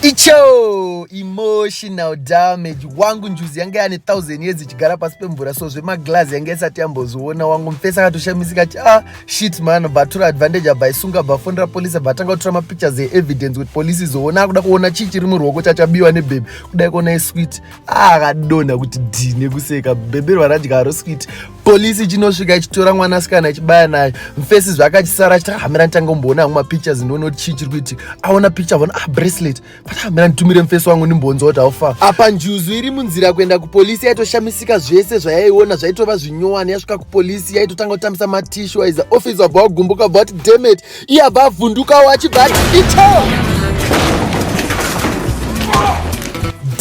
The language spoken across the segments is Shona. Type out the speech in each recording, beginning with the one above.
Icho emotional damage wangu njuzi yange yane 1000 years ichigara pasi pemvura so zvemaglazi yange isati yamboziona wangu mfesa akatoshamisika ti ah shit man batura advantage abva isunga bafonera police abva atanga kutora mapictures eevidence kuti police izoona akuda kuona chii chiri muruoko chachabiwa nebhebhi kudai kuona iswit ah, akadonha kuti dhi nekuseka bhebhi rwaradya aro swit polisi ichinosvika ichitora mwana asikana ichibaya naye mfesi zvaakachisara achita hamira nditanga kumboona amwe mapictures ndione kuti chii chiri kuiti aona picture avona ah bracelet but hamira nditumire mfesi wangu ndimbonza kuti aufa apa njuzu iri munzira kuenda kupolisi yaitoshamisika zvese zvayaiona zvaitova zvinyowani yasvika kupolisi yaitotanga kutambisa matishu aiza office wabva wagumbuka bva kuti demet iye abva avhundukawo achibva ati icho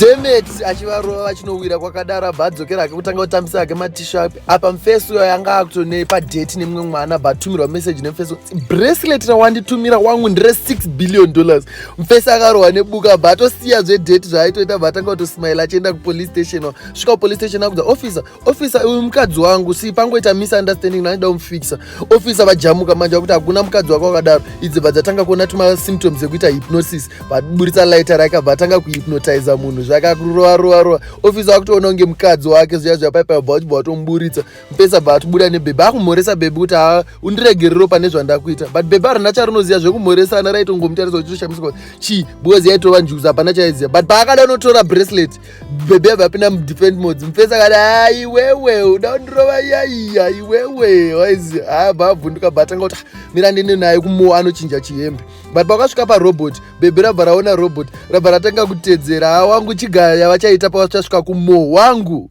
demet achivarova vachinowira kwakadaro abva adzokera ake kutanga kutambisa ake matisha apa mfesi uyo yanga akutonei padheti nemumwe mwana abva atumirwa meseji nemfesi bracelet rawanditumira wangu ndire 6 billion dollars mfesi akarohwa nebuka abva atosiya zvedheti zvaaitoita abva atanga kutosmaila achienda kupolice station svika kupolice station akudza officer officer uyu mukadzi wangu si pangoita misunderstanding naida umufikisa officer vajamuka manje vakuti hakuna mukadzi wako wakadaro idzi bva dzatanga kuona tuma symptoms ekuita hypnosis vaburitsa lighter rake bva atanga kuhypnotiza munhu zvakakurova rova rova officer vakutoona kunge mukadzi wake zviya zviya paipa bva vachibva vatomuburitsa mupesa bva vatubuda nebhebhi akumhoresa bhebhi kuti ha undiregerero pane zvandakuita but bhebhi arina charinoziva zvekumhoresana raitongomutarisa uchitoshamisika chii because yaitova njuzi hapana chaiziva but paakada unotora bracelet bebe ava apinda mudefend mods mupesa kati ha iwewe uda undirova yaiya iwewe waizi ha bavhunduka bata nga kuti mira ndine naye kumowa anochinja chihembe but pakasvika parobot bebe rabva raona robot rabva ratanga kutedzera ha wangu chigaya yavachaita pavachasvika kumowa wangu